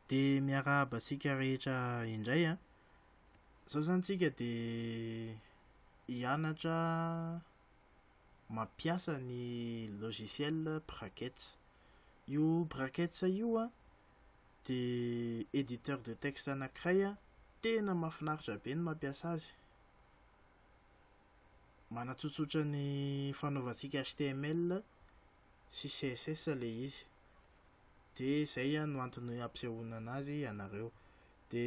Dia miarahaba antsika rehetra indray an! Izao izany tsika dia hianatra mampiasa ny logiciel Brackets. Io Brackets io an, dia editeur de texte anankiray an, tena mahafinaritra be ny mampiasa azy. Manatsotsotra ny fanaovantsika HTML sy css le izy de zay a no antony ampisehoana anazy ianareo de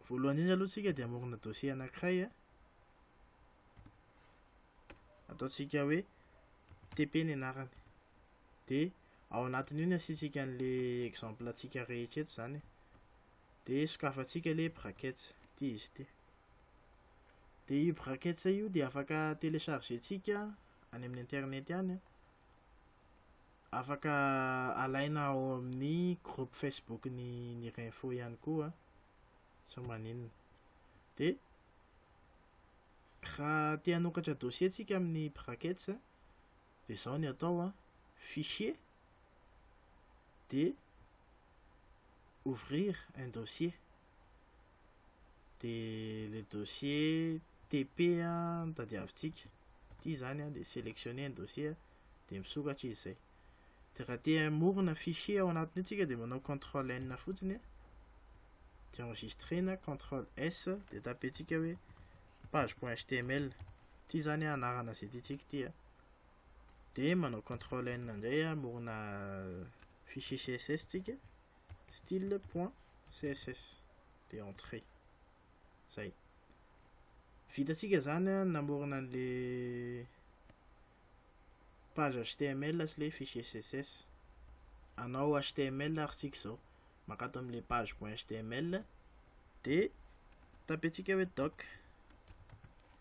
voalohany indrindra aloha tsika de amorona dossier anankiray a ataontsika hoe tp ny anarany de ao anatin'io ny asiantsika an'le exemple antsika rehetra eto zany de sokafantsika le brackets ty izy ty de io brackets io de afaka telechargentsika any amin'ny internet any an, afaka alaina ao amin'ny groupe Facebook ny ny Renfo ihany koa sa maninona. Dia raha te hanokatra dossier tsika amin'ny brackets an, dia izao ny atao an, fichier dia ouvrir un dossier. dia le dossier TP no tadiavintsika, ity izany an, dia selectionner ny dossier dia misokatra izy izay. Dia raha te hamorona fichier ao anatin'io tsika dia manao control N fotsiny an, dia enregistrer na control S dia tapentsika hoe page.html, ity izany an anarana izay tiantsika ity an, dia manao control N indray hamorona fichier CSS tsika, style point css de entrée zay vitantsika zany a namorona an'le page html sy le fichier css anao html ary tsika zao maka ato am'le page point html de tapentsika hoe doc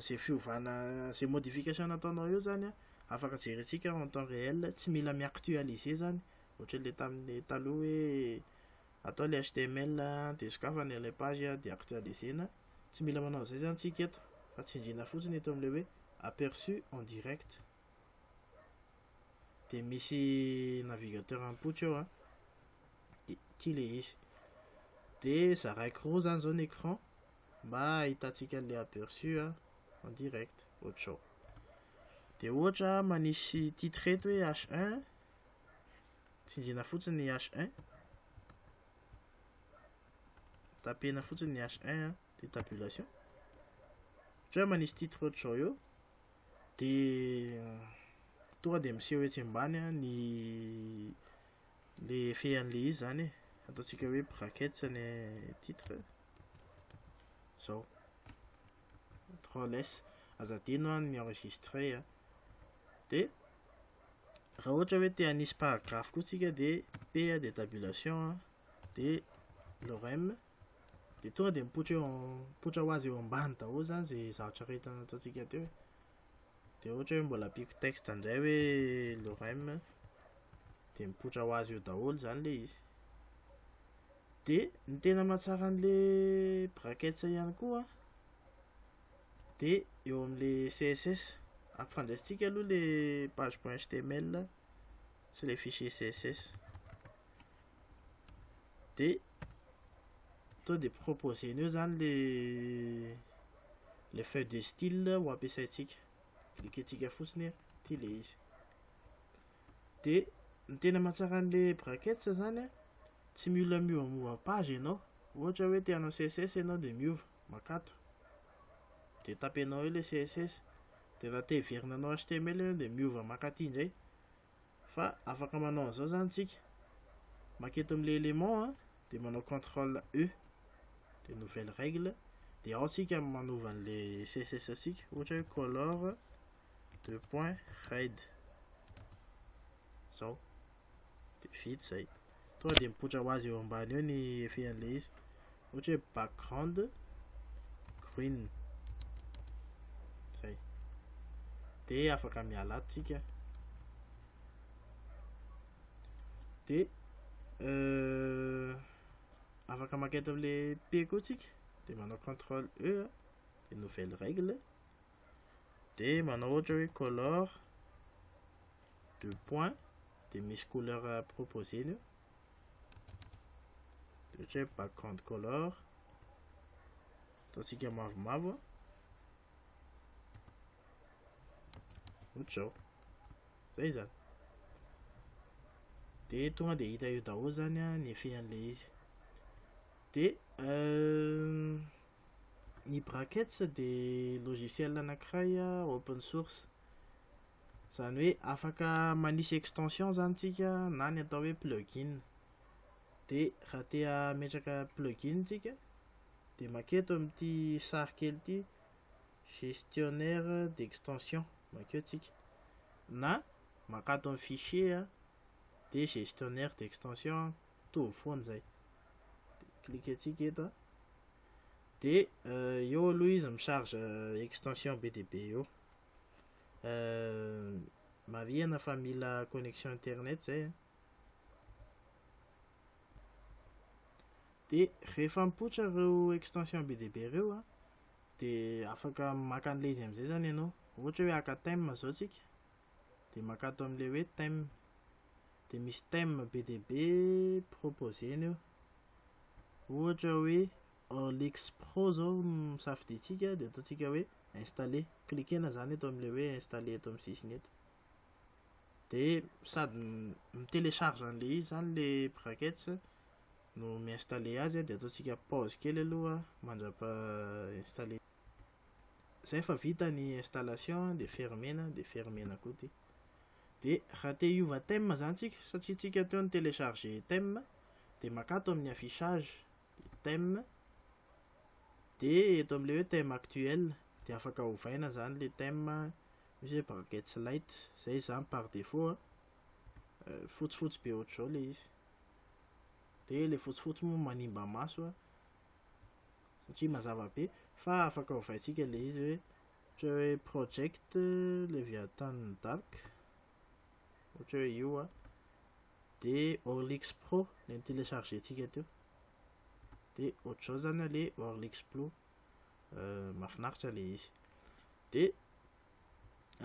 izay fiovana izay modification nataonao eo zany an, afaka jerentsika en temps réel tsy mila mi actualiser zany ohatran'ilay tamin'ny taloha hoe atao ilay html dia sokafana ilay page dia actualiser-na, tsy mila manao an'izay zany tsika eto fa tsindriana fotsiny eto amin'ilay hoe aperçu en direct dia misy navigateur mipoitra eo an, dia ity ilay izy dia zaraiko roa zany zao ny écran mba ahitantsika an'ilay aperçu en direct ohatr'izao dia ohatra manisy titre eto hoe H1 tsindriana fotsiny ny H1 tapena fotsiny ny H1 dia tabulation ohatra manisy titre ohatr'izao eo dia tonga dia miseho etsy ambany ny le fean'le izy zany ataontsika hoe brackets ny titre zao contrôle S aza adino an ny enregistré a de raha ohatra hoe te hanisy paragraphe koa tsika de P de tabulation a de lorem de tonga de mipoitra eo mipoitra ho azy eo ambany daholo zany ze zavatra rehetra nataontsika teo e. de ohatra hoe mbola ampiako texte ndray hoe lorem de mipoitra ho azy eo daholo zany le izy De ny tena mahatsara an'le brackets ihany koa de eo amin'le CSS. Ampifandraisintsika aloha le page.html sy le fichier CSS. De to de proposer eo zany le le feuille de style ho ampiasaintsika. Cliquer-tsika fotsiny ity le izy. de ny tena mahatsara an'le brackets zany a tsy mila miovamiova page ianao ohatra hoe te hanao css ianao de miova makato de tapenao eo le css de raha te hiverina hanao html ianao de miova maka aty indray fa afaka manao an'izao zany tsika maka eto am'le élément a de manao contrôle e de nouvelle règle de ao tsika manova an'le css tsika ohatra hoe color deux point hide zao de vita zay tonga de mipoitra ho azy eo ambany eo ny effet an'le izy ohatra hoe background green zay de afaka miala ato tsika de euh, afaka mankety am'le p koa tsika de manao contrôle e de nouvelle règle dia manao ohatra hoe color de point dia misy couleur proposé-ny eo dia ohatra hoe background color ataontsika mavomavo ohatr'izao zay zany dia tonga dia hita eo daholo zany ny effet an'ilay izy dia euh, Ny Brackets dia logiciel anankiray open source. Izany hoe afaka manisy extension izany isika na ny atao hoe plugin. Dia raha te hametraka plugin isika dia maka eto amin'ity sary kely ity gestionnaire d'extension, makeo isika. Na maka ato amin'ny fichier dia gestionnaire d'extension. mitovy foana izay de cliquentsika eto a de eo aloha izy micharge extension be dia be eo marihana fa mila connexion internet izay a de rehefa mipoitra ireo extension be dia be ireo a de afaka maka an'ilay izy amin'izay izany ianao ohatra hoe haka theme izao tsika de maka ato amin'ilay hoe theme dia misy thème be dia be proposer-ny eo. Ohatra hoe Orlix Pro zao misafidiantsika dia ataontsika hoe installer. Cliquer-na zany eto amin'ilay hoe installer eto amin'ny sisiny eto. Dia sady mi-télécharge an'ilay izy zany le brackets no mi-installer azy dia ataontsika pause kely aloha mandrapa installer. Zay fa vita ny installation dia fermer-na dia fermer-na koa ity. de raha te hiova thème zany tsika satria tsika teo ny télécharger thème de maka ato amin'ny affichage de thème de eto amle hoe thème actuel de afaka ovaina zany le thème misy hoe brackets light zay zany par défaut euh, fotsifotsy be ohatr'izao le izy de le fotsifotsy moa manimba maso satria mazava be fa afaka ovaintsika le izy hoe Ohatra hoe project Leviathan Dark, ohatra hoe io a, dia Orlix Pro ilay ni-télécharger-tsika teo, dia ohatr'izao zany a le Orlix Pro, mahafinaritra le izy, dia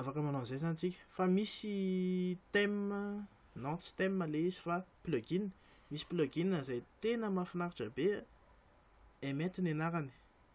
afaka manao an'izay zany tsika, fa misy thème, non tsy thème le izy fa plugin, misy plugin izay tena mahafinaritra be a, Emmet ny anarany,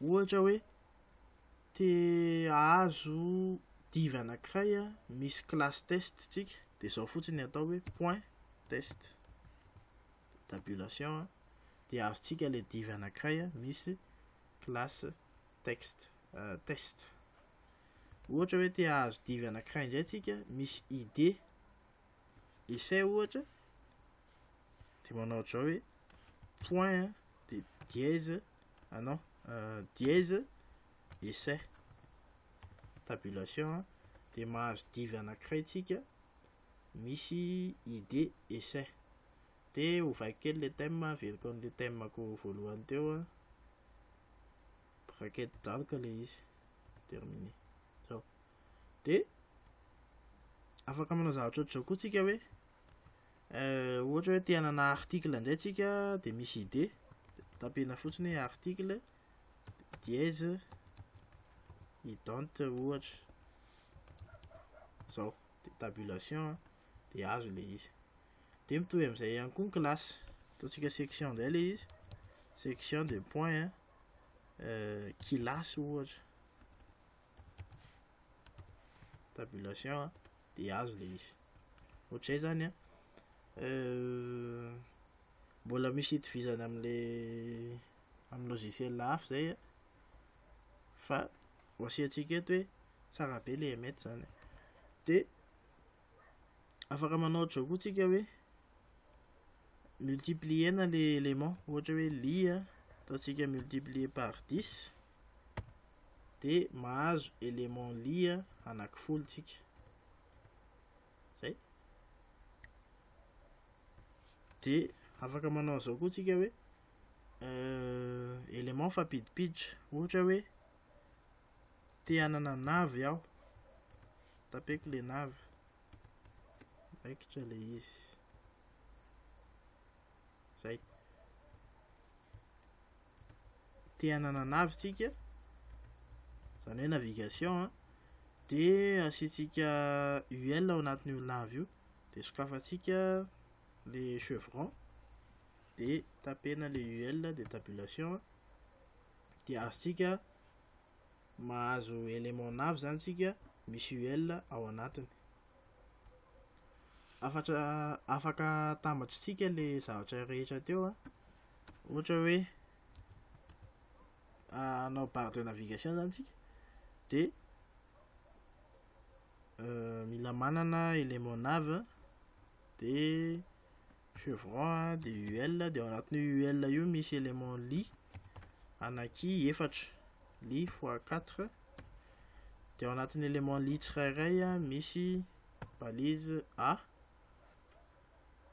Ohatra hoe, te hahazo div anankiray misy classe test tsika dia izao fotsiny ny atao hoe point test tabulation dia azontsika ilay div anankiray misy classe text test. Ohatra hoe te hahazo div anankiray indray tsika misy id essai ohatra dia manao ohatranao hoe point a, dia dièse, ah non, euh, dièse, essai, tabulation, dia mahazo div anankiray tsika misy id essai. Dia ovaiko kely le thème, averiko an'le thème-ko voalohany teo a, bracket dark le izy, terminé, zao. Dia afaka manao zavatra ohatr'izao koa tsika hoe, Euh, ohatra hoe te hanana article indray tsika de misy idée tapena fotsiny hoe article dièse ident ohatra zao de tabulation de azo le izy de mitovy amizay ihany koa ny classe ataontsika section indray le izy section de point euh, kilasy ohatra tabulation de azo le izy Ohatr'izay izany an! Mbola misy itovizana amin'ilay amin'ny logiciel hafa izay an, fa ho asiantsika eto hoe tsara be ilay Emmet izany an. Dia afaka manao ohatr'izao koa tsika hoe multiplier-na ilay élément, ohatra hoe li an, ataontsika multiplier par dix, dia mahazo élément li anankifolo tsika. zay de afaka manao an'izao koa tsika hoe euh, élément fampidipiditra ohatra hoe te hanana navy aho tapeko le navy raikitra le izy izay. Te hananana avy tsika, izany hoe navigation an, dia asiantsika UL ao anatin'io lave io, dia sokafantsika le chevron, dia tapena le UL dia tabulation, dia azontsika mahazo élément nav zany tsika misy UL ao anatiny. Afatra afaka atambatritsika le zavatra rehetra teo a. Ohatra hoe anao barre de navigation zany tsika de euh, mila manana élément nav de Chevron dia UL dia ao anatin'io UL io misy élément li anaky efatra li fois 4 dia ao anatin'ny élément li tsirairay misy balise A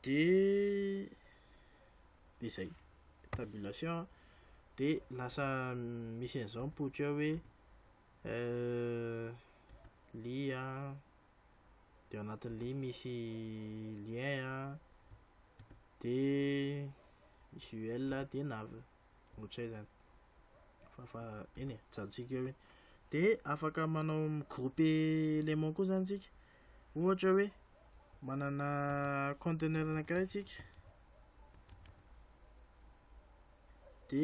dia dia zay tabulation dia lasa misy an'izao ny poty ao hoe euh, li a de ao anatin'ny link misy lien a de misy UL a de nav ohatr'izay zany fa fa eny e jantsika eo iny de afaka manao groupe élément koa zany tsika ohatra hoe manana conteneur anankiray tsika de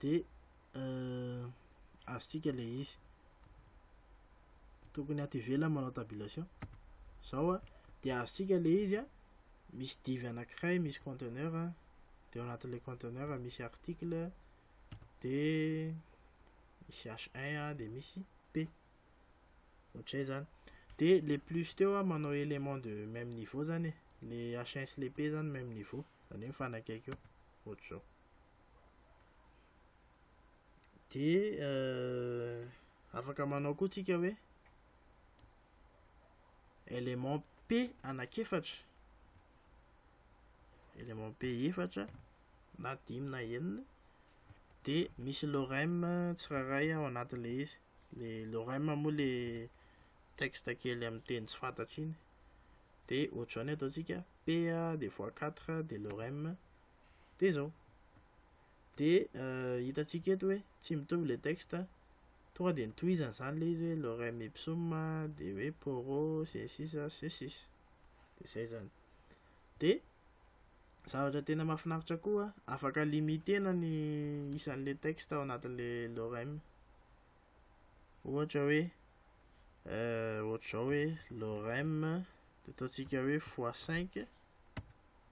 dia azontsika ilay izy tokony ato ivelany manao tabulation zao a dia azontsika ilay izy a misy divy anankiray misy conteneur a dia ao anatin'ilay conteneur misy article dia misy h1 a dia misy p ohatr'izay zany dia le plus teo a manao élément de même niveau zany e le h1 sy le p zany même niveau zany hoe mifanakaiky eo ohatr'izao dia euh, afaka manao koa tsika hoe élément p anak'efatra élément p efatra na dimy na enina dia misy lorem tsirairay ao anatin'le izy le lorem moa le texte kely amin'ny teny tsy fantatra iny dia ohatr'izao ny ataontsika p dia fois 4 dia lorem dia zao dia hitantsika eto hoe tsy mitovy le texte tonga dia nitohizany zany le izy hoe lorem ipsum dia hoe poro sy ny sisa sy ny sisa dia zay zany dia zavatra tena mahafinaritra koa afaka limitena ny isan'le texte ao anatin'le lorem ohatra hoe euh, ohatr'izao hoe lorem dia ataontsika hoe fois 5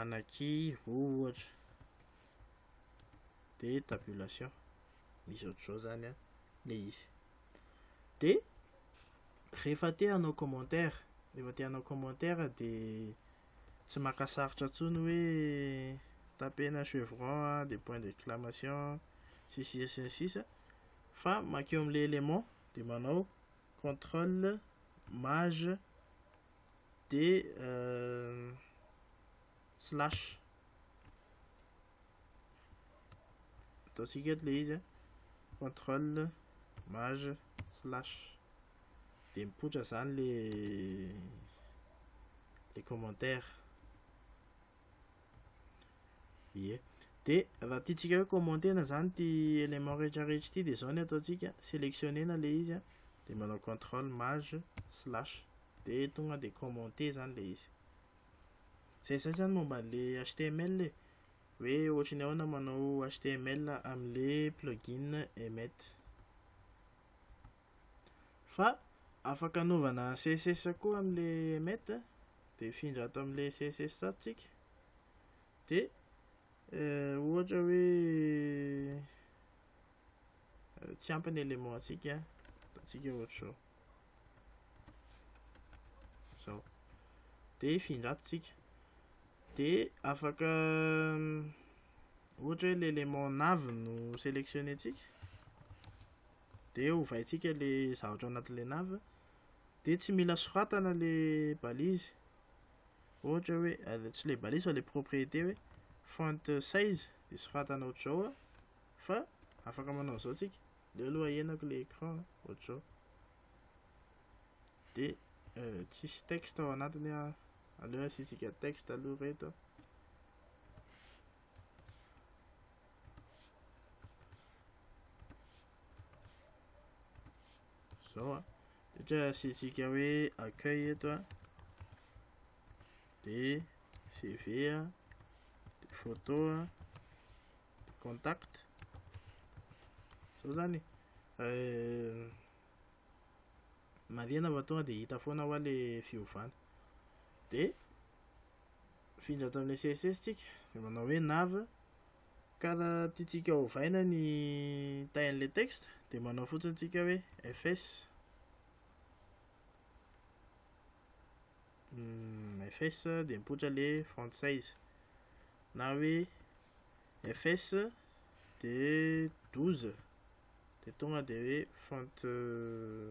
anaky roa ohatra dia tabulation misy ohatr'izao zany an le izy dia rehefa te hanao commentaire rehefa te hanao commentaire dia tsy maka sarotra intsony hoe tapena chevron a dia point d'exclamation sy sisa sy ny sisa fa makeo amin'ilay élément dia manao contrôle maj dia slash ataontsika eto ilay izy a contrôle mage slash dia mipoitra izany le le commentaire Ie. Dia raha tiantsika hoe commenter-na izany ity élément rehetra rehetra ity dia izao ny ataontsika, sélectionner-na ilay izy an, dia manao control maj slash dia tonga dia commenter izany ilay izy. Izay izay izany momba an'ilay html e, hoe ohatry ny ahoana manao html amin'ilay plugin emmet. Fa afaka anaovana css koa amle emmet de mifindra ato amle css ato tsika de ohatra hoe tsy ampy ny element antsika ataontsika ohatr'izao zao de hifindra ato tsika de afaka ohatra hoe le élément navy no sélectionné tsika dia ovaintsika le zavatra ao anatin'ilay nav dia tsy mila soratana le balise ohatra hoe ah, tsy le balise fa le propriété hoe font size dia soratana ohatr'izao ah. fa afaka manao an'izao tsika le aloha ahenako le écran ah, ohatr'izao dia euh, tsisy texte ao anatiny ah. aleo asitsika texte aloha reto zao a de ohatra hoe asiantsika hoe accueil eto a de cv a de photo a de contact zao zany euh, marihana fa tonga de hita foana hoa le fiovana de Mifindra ato amin'ilay CSS tsika, dia manao hoe nav, ka raha tiantsika hovaina ny tahin'ilay texte dia manao fotsiny tsika hoe fs hmm, fs dia mipoitra le font size na hoe fs dia 12 dia tonga dia hoe font euh,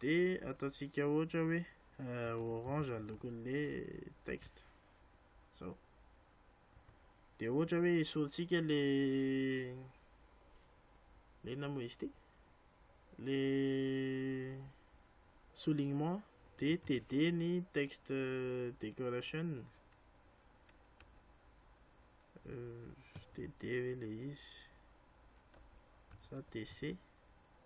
dia ataontsika ohatra hoe orange ny lokon'le texte zao dia ohatra hoe esorintsika le le inona moa izy ity le soulignement dia td ny texte decoration td ve le izy sa tc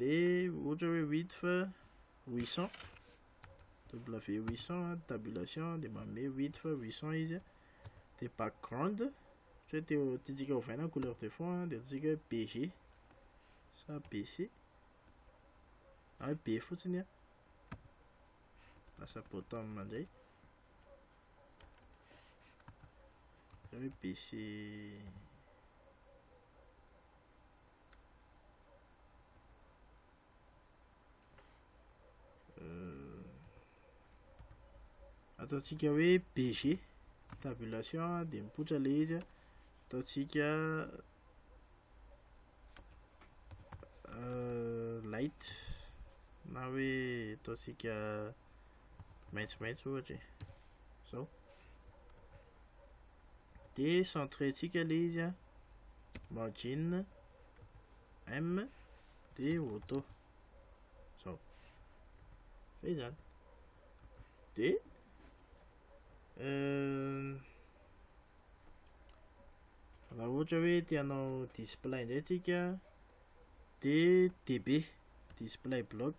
dia ohatra hoe width 800 w 800 tabulation dia manome width 800 izy dia background ohatra hoe teo tiantsika ovaina couleur de fond dia ataontsika hoe bg sa bc na hoe b fotsiny a lasa bottom indray hoe bc ataontsika hoe bg tabulation dia mipoitra le izy ataontsika euh, light na hoe ataontsika maitsomaitso ohatra e zao dia centrentsika ilay izy a margin m dia auto zao zay zany dia raha ohatra hoe te hanao display indray tsika dia db display block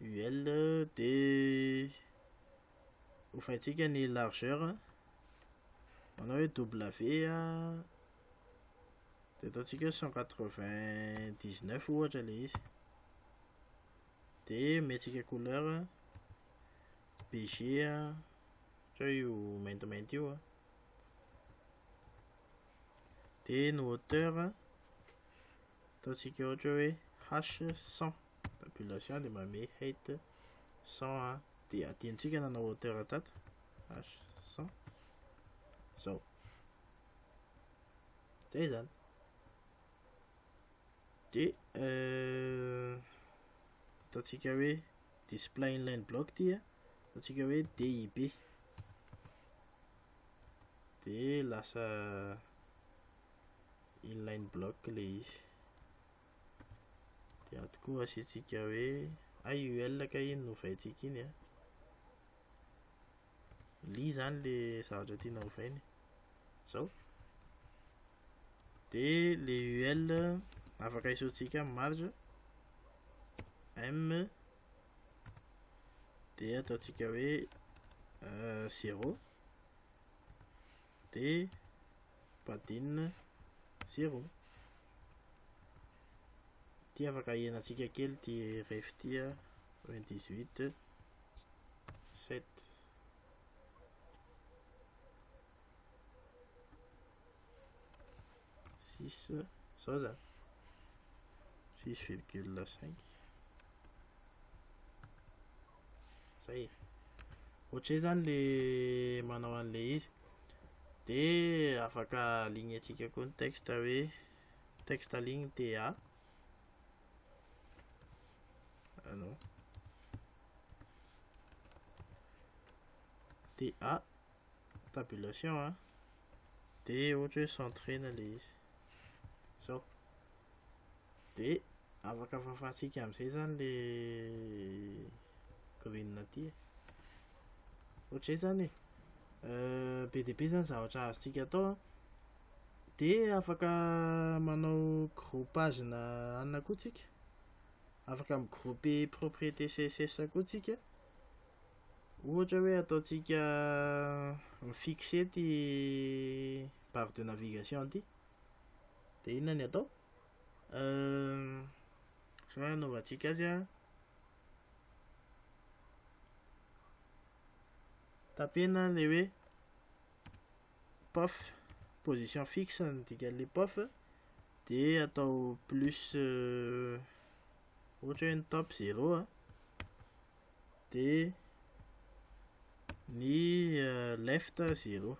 UL de hofaintsika ny largeur manao hoe W a de ataontsika hoe cent quatre vingt dix neuf ohatra le izy de omentsika couleur BG a ohatra hoe io maintimainty io a de ny hauteur Ataontsika ohatra hoe h 100 tabulation dia manome height 100 a dia adinontsika nanao hauteur tato h 100 izao dia izany dia euh, ataontsika hoe display inline block ity a ataontsika hoe dib dia lasa inline block ilay izy dia ato koa asiantsika hoe ay io L ka iny no ovaintsika iny a li zany le zavatra tiana ovaina zao dia le UL afaka isoantsika amin'ny marge M dia ataontsika hoe euh, zéro dia badinina zéro ity afaka hihenantsika kely ity ref ity a 28 7 a six zao zany six virgule cinq zay e ohatrizay zany le manao an'le izy de afaka aligneantsika koa ny texte hoe texte aligny ta anao ta tabulation a dia ohatra hoe centrena ilay izy izao dia afaka fafantsika amin'izay zany le green aty e ohatr'izay zany e euh, be dia be zany zavatra azontsika atao a dia afaka manao groupage na anona koa tsika afaka migroupe propriété css koa tsika Ohatra hoe ataontsika mi-fixer ity barre de navigation ity. Dia inona ny atao? Izao hanaovantsika azy an. Tapena ilay hoe pof, position fixe ny dikan'ilay pof. Dia atao plus, ohatra hoe ny top 0 an. dia ny left zero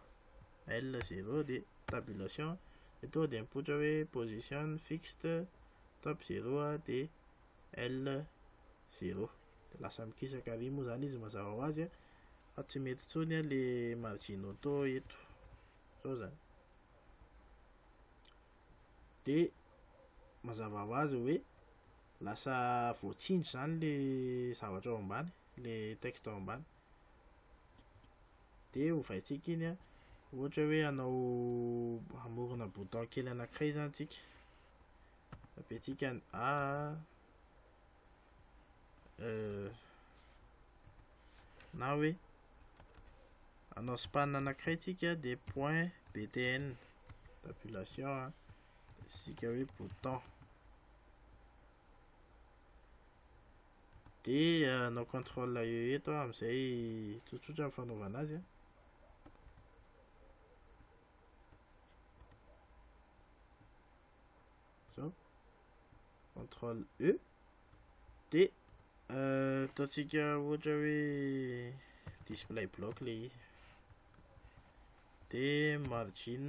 L zero dia tabulation dia tonga dia mipoitra hoe position fixed top zero dia L zero dia lasa mikisaka ary moa zany izy mazava ho azy fa tsy mety intsony le margin auto eto zao zany dia mazava ho azy hoe Lasa voatsindry izany le zavatra ao ambany, le texte ao ambany. Dia ovaintsika iny an, ohatra hoe hanao hamorona bouton kely anankiray izany tsika. Tapentsika ny A, E, na hoe hanao span anankiray tsika dia point btn, tabulation an, dia asiantsika hoe bouton. dia hanao contrôle e eto aho amin'izay tsotsotra ny fanaovana azy a zao contrôle e dia ataontsika ohatra hoe display block le izy dia margin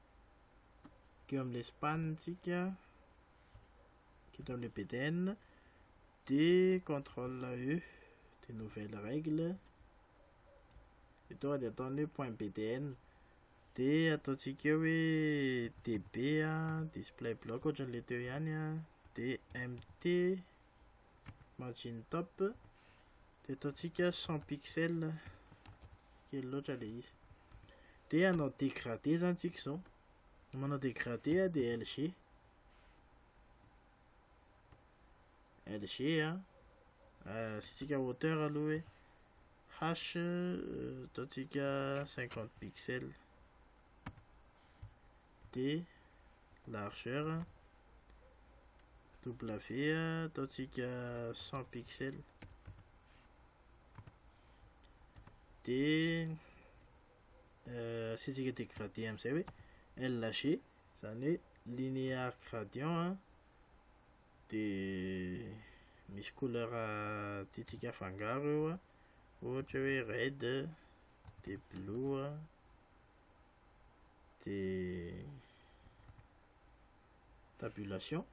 teo amin'i Espagne tsika teo amin'ilay BDN dia contrôle E dia nouvelle règle dia tonga dia ataony hoe point BDN dia ataontsika eo hoe DB a display block ohatran'ilay teo ihany a dia MT margin top de ataontsika 100 pixel kely loatra le izy de anao dégradé zany tsika zao manao dégradé a de LG LG a euh, asitsika hauteur aloha hoe H euh, ataontsika 50 pixel de largeur w ataontsika 100 pixel de euh, asiantsika dégradé amin'izay hoe LG izany hoe linéaire gradient a de misy couleur tiantsika afangaro eo a ohatra hoe red de blue a dia tabulation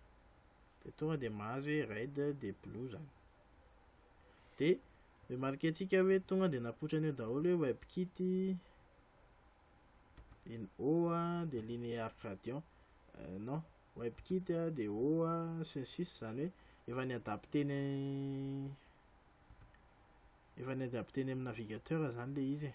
dia tonga dia mahazo hoe red dia blue zany dia remarquer antsika hoe tonga dia napoitra an'io daholo hoe webkit in o a dia linear gradient euh, non webkit a dia o a sy ny sisa zany hoe efa ny adapte ny efa ny adapte ny amin'ny navigateur zany le izy e.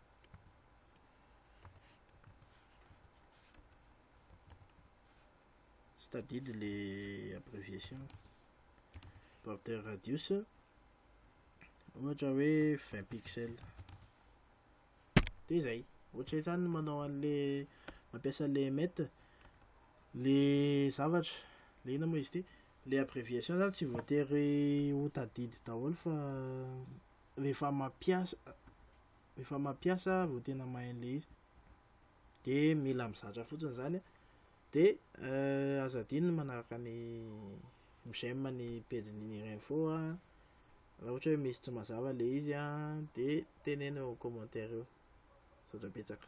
Tsy tadidy le abréviation. Border radius ohatra hoe 20 pixels. Dia izay. Ohatra izany manao an'le mampiasa le met le zavatra le inona moa izy ity le abréviation zany tsy voatery ho tadidy daholo fa rehefa mampiasa rehefa mampiasa vao tena mahay an'ilay izy de mila mizatra fotsiny izany a de euh, aza adino ny manaraka ny j'aime ny pejin'ny Nira Info a raha ohatra hoe misy tsy mazava ilay izy a de teneno eo amin'ny commentaire eo misaotra betsaka